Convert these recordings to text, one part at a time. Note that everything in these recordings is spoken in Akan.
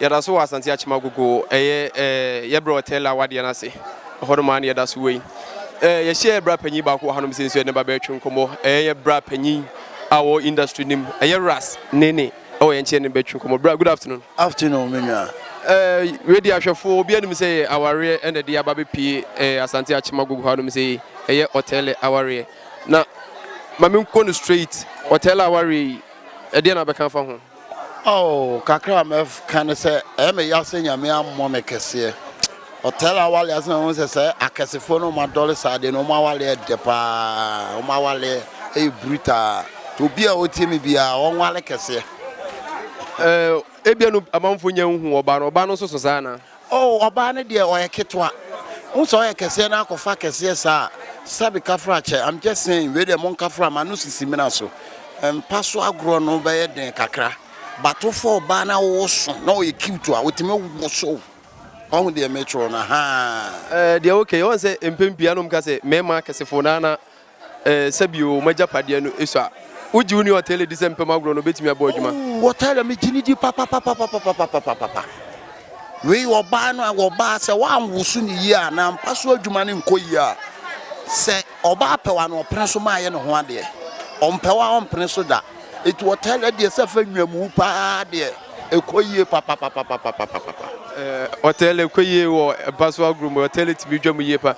Yɛda so wɔ Asante Akyem Agogo, ɛyɛ yɛ berɛ wɔ Tell a wadeɛ no ase. Ɛhɔ nom ara na yɛda so wɔ yi. Yɛhyɛ bra panyin baako wɔ ha nom sɛ nso yɛne ba bɛretwe nkɔmmɔ. Ɛyɛ yɛ bra panyin a wɔ industry nim, ɛyɛ Ras Nene ɛwɔ yɛn nkyɛn ne bɛtwe nkɔmmɔ. Bra, good afternoon. Afternoon, me nua. Wei deɛ ahwɛfoɔ obi anim sɛ yɛ awareɛ ɛna ɛde aba bɛpie Asante Akyem Agogo ha nom sɛ yi. Ɛyɛ Ɔtɛl awareɛ. Na ma me nkɔ no straight, Ɔtɛl awareɛ yi, ɛdeɛn na wobɛka afa ho? Oh kakra me ka ne sɛ ɛyɛ me ya sɛ nyame ammɔ me kɛseɛ ɔtɛl awale ase na ho sɛ sɛ akɛsefoɔ no ɔma dɔle saa deɛ no ɔma awale ɛdɛ paa ɔma awale ɛyɛ brutaa to obi a ɔtie me bia ɔnwale kɛseɛ. Ɛɛ ebia no amanfo nya nhu ɔba no ɔba no nso so saa na. Oh ɔbaa no deɛ ɔyɛ ketewa wohu sɛ ɔyɛ kɛseɛ na akɔfa kɛseɛ saa sɛbi kafra kyɛ I'm just saying wei deɛ monkafra ma no sisi mina so mpa so agorɔ no bɛyɛ den kakra but wofa ɔbaa na woso na ɔyɛ cute a wotumi woso wahu deɛ mekyerɛ no haa. Eh, deɛ okay, wɔn sɛ mpɛn pii anom ka sɛ mmarima akɛsefo na na Ɛɛ, sɛ bio, wɔn agyapadeɛ no sua. Wogye wo nni ɔtɛle di sɛ mpam agorɔ no bɛtumi abɔ adwuma? Ooh, ɔtɛle, megye no di papapapapapapapapa. Wei, ɔbaa no a, ɔbaa, sɛ woanwoso no yie a, na mpa so adwuma no nkɔ yie a, sɛ ɔbaa pɛ wo a, na ɔpene so ma ayɛ ne ho adeɛ. Ɔmpɛ wo a, ɔmpene so da. Enti ɔtɛle deɛ, sɛ fa nnwamu pa ara deɛ, ɛkɔ yie papapapapapapapa. Ɛɛ, ɔtɛle kɔ yie wɔ mpa so agorɔ mu. Ɔtɛle tumi dwa mu yie pa ara.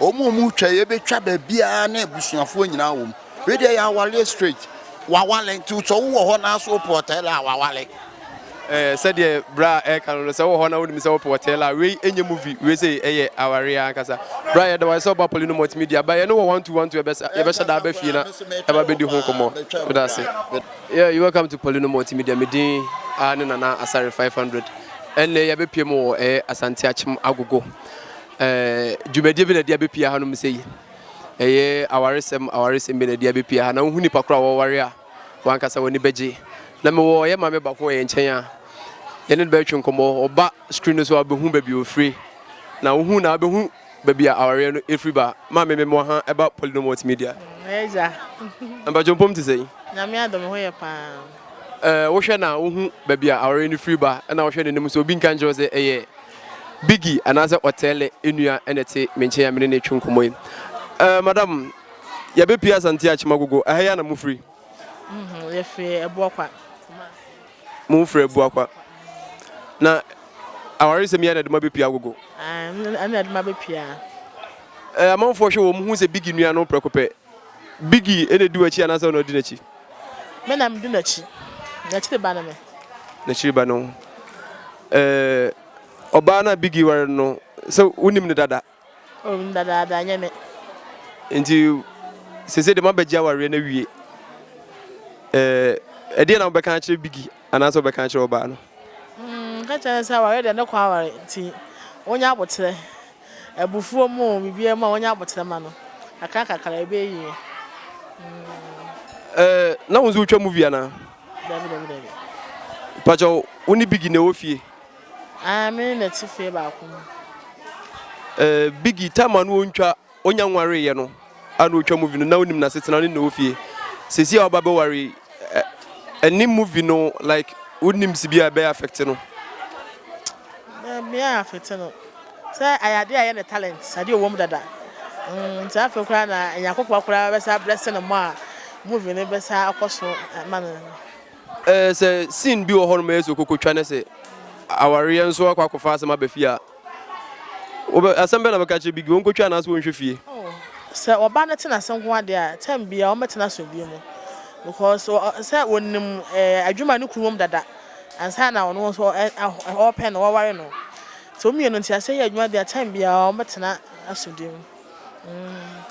Wɔn a wɔn twa yi ɛbɛtwa baabiara na abusuafoɔ nyinaa wɔ mu. Wei deɛ yɛ awareɛ straight. Wawale nti sɛ wowɔ hɔ na so wopɛ ɔtɛlɛ a wawale. Ɛɛ sɛdeɛ bra a ɛka no no sɛ wowɔ hɔ na wonim sɛ wopɛ ɔtɛlɛ a wei ɛnyɛ movie wei sei ɛyɛ awareɛ ankasa. Bra yɛda wase sɛ woba Paulino Multimedia ba yɛne wɔ one two one two ɛbɛsa yɛbɛhyɛ da aba fie na ɛba bɛdi ho nkɔmmɔ. Meda ase. Yeah you welcome to Paulino Multimedia me din aa ne Nana Asare five hundred ɛnnɛ yɛabɛpiem wɔ ɛyɛ Asante Akyem Agogo Ɛɛ dwumadie bi na ɛde abɛpia hanom sɛ yi? Ɛyɛ awaresɛm awaresɛm bi na ɛde abɛpia ha. Na wohu nipa koro a wɔware a, wɔn ankasa wɔn ani bɛgye. Na mewɔ yɛn maame baako wɔ yɛn nkyɛn a, yɛne no bɛretwe nkɔmmɔ. Ɔba screen no so a, wobɛhu baabi a ɔfire. Na wohu no a, wobɛhu baabi a awareɛ no firi ba. Maame, memmɔ ha ɛba Polino Multimedia. Ɛyɛ gya. Mpakyɛ mpom te sɛn? Nyame adom, me ho yɛ paa. Ɛɛ wohwɛ na wohu baabi a awareɛ no firi ba, ɛna wohwɛ n'anim nso, obi nka nkyerɛ wo sɛ ɛyɛ. Biggy anaasɛ Ɔtɛɛlɛ nua na ɛte me nkyɛn a me ne no retwe nkɔmmɔ yi. Ɛɛ madam, yɛabɛpue Asante Akyemagogo, ɛha yi ara na mofiri? Mhm, yɛfiri Abuakwa. Mofiri Abuakwa. Na awaresɛm yi ara na ɛde mo abɛpue Agogo? Ɛɛ, ɛno na ɛde me abɛpue ha. Ɛɛ amanfoɔ hwɛ wɔn ho hu sɛ Biggy nua no prɛko pɛ, Biggie na edi w'akyi anaasɛ ɔna odi n'akyi? Me na medi n'akyi. N'akyiri ba ne me. N'akyiri ba ne wo. Ɛɛ ɔbaa no a Biggie ware no no, sɛ wonim no dada? Oh, menim no dadaada, ɛnyɛ me. Enti seesei deɛ moabɛgye awareɛ no awie. Ɛɛ ɛdeɛ na wobɛka akyerɛ Biggie anaasɛ wobɛka akyerɛ ɔbaa no? Mm, mɛka akyerɛ no sɛ awareɛ deɛ ne kɔ aware nti ɔnyɛ aboterɛ. Abufuo mu o, biribiara mu a wɔnyɛ aboterɛ ma no. Kakra kakra ɛbɛyɛ yie. Ɛɛ na wo nso wotwa movie anaa? Dabi dabi dabi. Mpakyɛ wo ne Biggie na ɛwɔ fie? Ae me ne no te fie baako mu. Ɛɛ Biggie time a na ɔntwa ɔnya nwareeɛ no. a na otwa movie no na onim n'asetena ne n'ofie. Sesi a ɔba bɛware yi, ɛne movie no like wonim si bi a ɛbɛyɛ affect no? Ɛbɛyɛ affect no sɛ ayɛ adeɛ a ɛyɛ ne talent, adeɛ a ɔwɔ mu dada. Nti afei koraa na anya akokoa koraa bɛsan ablɛse no more a movie no bɛsan akɔ so ma no no. Sɛ scene bi wɔ hɔ nom a ɛyɛ sɛ okokotwa ne sɛ awareɛ nso akɔ akɔfa asɛm aba fie a. Wobɛ asɛm bɛn na bɛka akyerɛ Biggie? Wɔnkɔtwa anaasɛ wɔnhwɛ fie? Oh, sɛ ɔba no te n'ase nko ara deɛ a, time biara wɔbɛte no asomdwoeɛ mu because ɔ, sɛ ɔnim eh, adwuma a ne kunu wɔ mu dada ansa na ɔno nso ɔ, ɛ, ɛ, ɔrepɛ no, ɔreware no. Sɛ wɔn mmienu nte aseɛ yɛ adwuma deɛ a, time biara wɔbɛtena asomdwoeɛ mu. Mm.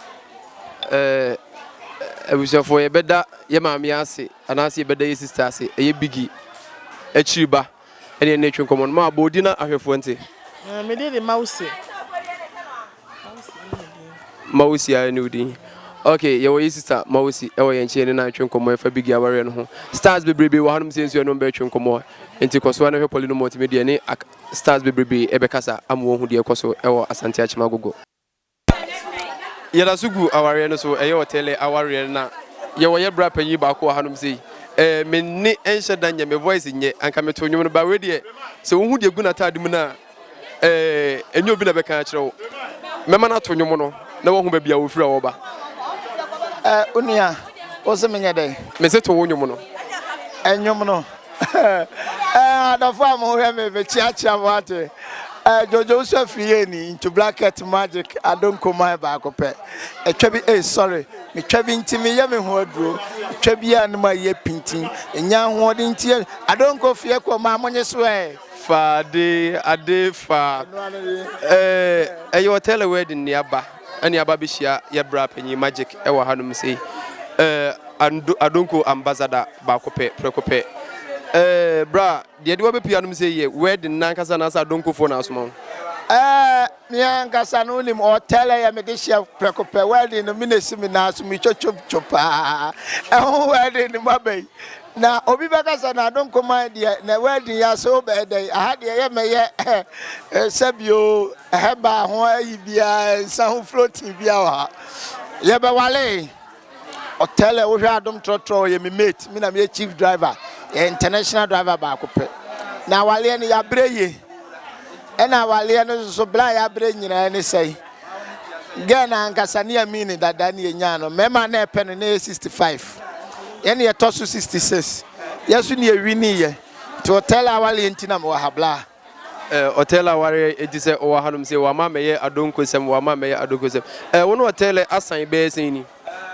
Eh, abusuafoɔ, yɛbɛda yɛn maame ase anaasɛ yɛbɛda yɛn sista ase, ɛyɛ Biggie akyiri ba. Ɛdeɛ ne twe nkɔmɔ no ma bɔ odi na ahwɛfoɔ nte. Ɛɛ me deɛ de Mawusi. Mawusi ara ne odin. Ok yɛwɔ yi sista Mawusi ɛwɔ yɛn nkyɛn ne na twe nkɔmɔ ɛfa bigi awareɛ no ho. Stars bebrebe wɔ hanom sɛ nsuo ɛnom bɛtwe nkɔmɔ nti kɔsoa na hwɛ pɔli no mɔntimi deɛ ne stars bebrebe ɛbɛkasa ama wɔhu deɛ ɛkɔso ɛwɔ Asante Akyem Agogo. Yɛda so gu awareɛ no so, ɛyɛ Otele awareɛ na yɛwɔ yɛ bra panyin baako wɔ hanom sei, eh, me nne nhyɛ da nyɛ, me voice nyɛ, anka meto nnwom no but wei deɛ sɛ wohu deɛ egu n'ataade mu no a, eh, ɛnyɛ obi na bɛka akyerɛ wo, mɛma no ato nnwom no na wahu baabi a ɔfiri a ɔreba. Eh, onua, wose menyɛ dɛn? Mese to wo nnwom no. Nnwom no? Eh adɔfo a mohwɛ me mekyeakyea mo ate eh, Jojo nso afiri yɛ ni into blanket magic adonko man baako pɛ ɛtwa bi eh sorry metwa bi nti meyɛ me ho aduro ɛtwa bi a ne ma yɛ pintin ɛnya ahoɔden nti yɛ adonko fie kɔ maa mo nye so eh fa ade ade fa eh ɛyɛ hotel wedding ne aba. Ɛne aba bɛhyia yɛ bra panyin magic wɔ ha nom sei eh adonko ambassador baako pɛ prɛko pɛ eh bra deɛ de wabɛpie anom sei yɛ wedding na ankasa anaasɛ adonko foɔ na asoma wo. Eh me ankasa no wonim hotel ɛyɛ me de hyɛ prɛko pɛ wedding no me na ɛsi me nan so me twotwo paa ɛho wedding no mu aba yi Na obi bɛka sɛ, na Adonkoman deɛ, na wɛɛdin yi ase wobɛyɛ dɛn? Aha deɛ yɛ mɛyɛ sɛbio hɛbaa ho ayi biara, nsa ho floating biara wɔ ha. Yɛbɛwale. Ɔtɛlɛ wohwɛ adom trɔtrɔ ɔyɛ me mate, me na meyɛ chief driver, yɛ international driver baako pɛ. Na awaleɛ no yɛabrɛ yie. Ɛna awaleɛ no nso bla a yɛabrɛ nyinaa ne sɛe. Ghana no ankasa ne Amin no dada ne yɛnyaa no, mmarima a na ɛpɛ no na ɛyɛ 65. Yɛn na yɛtɔ so 66. Yɛn nso na yɛwiniiɛ. Nti Hotel awareɛ nti na mewɔ ha bla. Eh, Hotel awareɛ nti sɛ ɔwɔ hanom sei, wama mɛyɛ adonkosɛm, wama mɛyɛ adonkosɛm. Eh, wo ne Hotel asan bɛyɛ sɛn ni?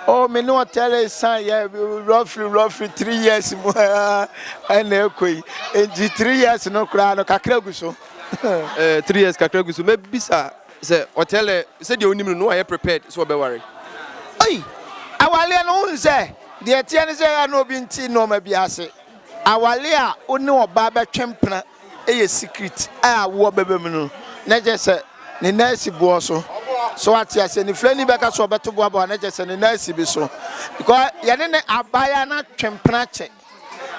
Oh, me ne Hotel san yɛ roughly roughly three years mu ɛna ɛkɔ yi. Nti three years no koraa no kakra gu so. Eh, three years kakra gu so. Mɛbisa. Sɛ ɔtɛlɛ sɛdeɛ wonim no na wayɛ prepared sɛ ɔbɛware. Ei! Awareɛ no wohu sɛ deɛ ɛteɛ ne sɛ ɛyɛ na obi nte nnoɔma bi ase. Awareɛ a wo ne ɔbaa bɛtwe mpena yɛ secret a awoɔ bɛba mu no na kyerɛ sɛ ne nan asi boɔ so. So wate aseɛ? Nifirani bɛka sɛ ɔbɛto boaboa na kyerɛ sɛ ne nan asi bi so because yɛne no abaeɛ a na twe mpena kyɛ.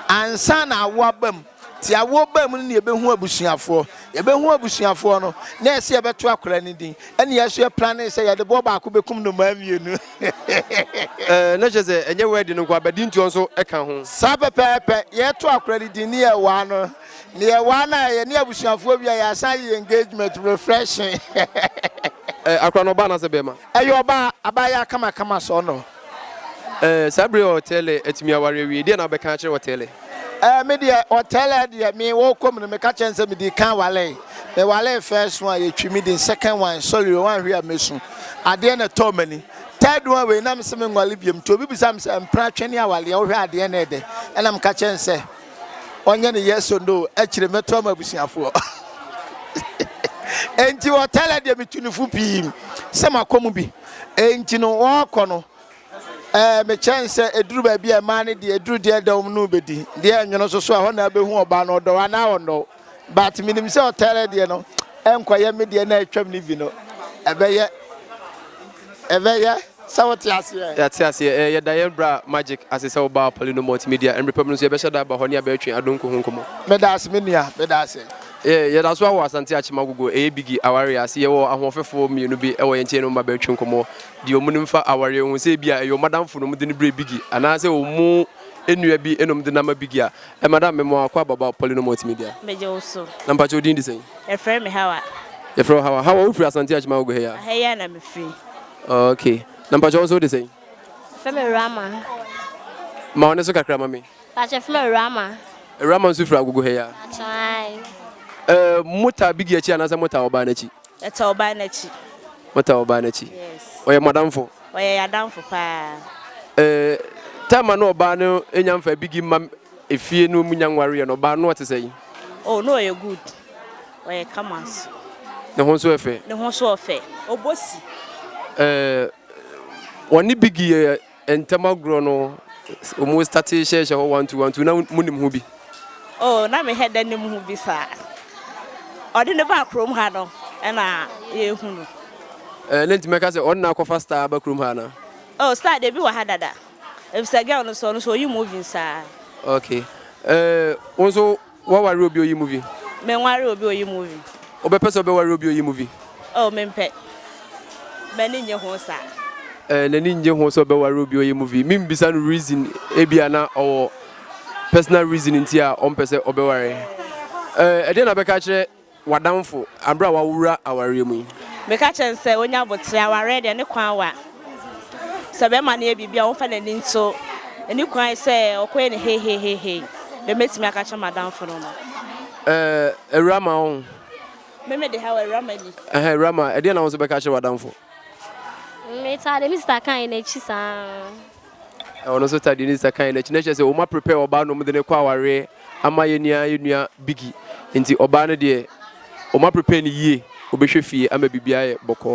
Ansa na awo aba mu, te awo ba mu no na yɛbɛhu abusuafoɔ. Yɛbɛhu abusuafoɔ no, na ɛsɛ yɛbɛto akwadaa no din. Ɛnna yɛn nso yɛ planee sɛ yɛde boɔ baako bɛkum nnomaa mmienu. Ɛɛ, na kyerɛ sɛ ɛnyɛ wɛɛdi no nko ara, badintoɔ nso ka ho. Saa pɛpɛɛpɛ. Yɛto akwadaa no din, na yɛwaa no. Na yɛwaa no a, yɛne abusuafoɔ wie a, yɛasan ayɛ yɛn engagement, refreshing. Ɛɛ, akwadaa no, ɔbaa anaasɛ barima? Ɛyɛ ɔbaa. Abaayewa kamakama sɔɔnɔ. Ɛɛ saa bere a Ɔtɛɛlɛ atumi aware awie, deɛn na wobɛka akyerɛ Ɔtɛɛlɛ? Ɛɛ me deɛ Ɔtɛɛlɛ deɛ me wɔ kɔm no, meka kyerɛ no sɛ medi kan waree. Me waree first one, yɛtwi me din, second one, sorry o, wanhwe a mɛsu. Adeɛ na ɛtɔɔ m'ani. Third one wei na mese menware biom. Nti obi bisa me sɛ, mpena twɛne aware a, wohwɛ a adeɛ na ɛyɛ dɛ? Ɛna meka kyerɛ no sɛ. ɔnyɛ ne yes or no akyire mɛto ama abusuafoɔ enti hotel deɛ metu ne fo pii sɛ makɔ mu bi enti no wɔkɔ no ɛɛ mekyɛn sɛ eduru baabi a ɛmaa ne deɛ eduru deɛ dɛm no bɛdi deɛ ɛnwono so so a hɔ na abɛhu ɔbaa no ɔdɔ anaa ɔnnɔ But menim sɛ ɔtɛrɛ deɛ no ɛnkɔyɛ me deɛ na atwam no bi no ɛbɛyɛ ɛbɛyɛ sɛ wote aseɛ. Yɛate aseɛ. Ɛɛ yɛ da yɛn bra Magic ase sɛ wobaa Pali no Multimedia. Ɛmbre pa mu no nso yɛbɛhyɛ da aba hɔ ne abɛtwe Adonko ho nkɔmmɔ. Medaase me nua, medaase. Yɛɛ yɛda so wɔ Asante Akyem Agogo, ɛyɛ Biggie awareɛ ase. Yɛwɔ ahoɔfɛfoɔ mmienu bi wɔ yɛn nkyɛn ne wɔn abɛtwe nkɔmmɔ deɛ wɔn nim fa awareɛ ho. Sɛ ebia ɛyɛ wɔn adamfo na wɔde no brɛɛ Biggie anaa sɛ wɔn nua bi na wɔde no ama Biggie a, Eh madam me moa kwa baba poly no multimedia. Megye wo so. Na mpakyɛ wo din de sɛn? Yɛfrɛ me Hawa. Yɛfrɛ wo Hawa. Hawa wo firi Asante Akyima Agogo he a? Aha yi a na me firi. Ok. Na mpakyɛ wo nso wo de sɛn? Yɛfrɛ me Rama. Ma wo ne so kakra ma me. Mpakyɛ yɛfrɛ me Rama. Rama nso firi Agogo he a? Mpakyɛ ae. Eh mo taa bigi akyi anaasɛ mo taa ɔbaa no akyi? Yɛtɔ ɔbaa no akyi. Motɔ ɔbaa no akyi? Yes. Ɔyɛ mo adamfo? Ɔyɛ yɛn adamfo paa. Eh, time a na ɔbaa no nya mfa bigi mma efie no mu nya nwareɛ no, ɔbaa no ɔte sɛn? Oh, na ɔyɛ good. Ɔyɛ kama nso. Ne ho nso yɛ fɛ? Ne ho nso yɛ fɛ. Ɔbɔ si. Eh, wɔne bigi yɛ Ntɛm agorɔ no ɔmo starte hyɛɛhyɛ hɔ one two one two na mo nim ho bi? Oh na me hɛ dɛ nim ho bi saa. Ɔde no baa kurom ha no ɛna yɛ hu no. Eh na nti mɛka sɛ ɔno na akɔfa star aba kurom ha anaa? Oh star deɛ ebi wɔ ha dada. Efisɛ girl no so ɔno so oyi movie saa. Okay eh wo nso Woaware obi oyi movie? Menware obi oyi movie. Wobɛpɛ sɛ wobɛware obi oyi movie? Oh, mempɛ. M'ani nnye ho saa. Eh, n'ani nnye ho sɛ ɔbɛware obi oyi movie. Membisa no reason, ebia na ɔwɔ personal reason nti a ɔmpɛ sɛ ɔbɛware. Eh, ɛdeɛn na bɛka akyerɛ w'adamfo bere a woawura awareɛ mu yi? Meka kyerɛ no sɛ ɔnya aboterɛ, awareɛ deɛ ne kwan wa. Sɛ bɛrima no yɛ biribi a ɔmfa n'ani nto ne kwan sɛ ɔkɔyɛ no heiheiheihei, deɛ mɛtumi aka akyerɛ m'adamfo no no. Ɛɛ awura ma wo ho? Me mede ha wɔ awura ma ni. Ɛhɛn awura ma, ɛdeɛn na wo nso bɛka akyerɛ w'adamfo? Me taa deɛ me sista kae no akyi saa. Na ɔno nso tadee ne sista kae n'akyi na kyerɛ sɛ wɔn aprepare ɔbaa na wɔn de ne kɔ awareɛ ama yɛn nua yɛn nua bigi nti ɔbaa no deɛ wɔn aprepare ne yie wɔbɛhwɛ fie ama biribiara yɛ bɔkɔɔ.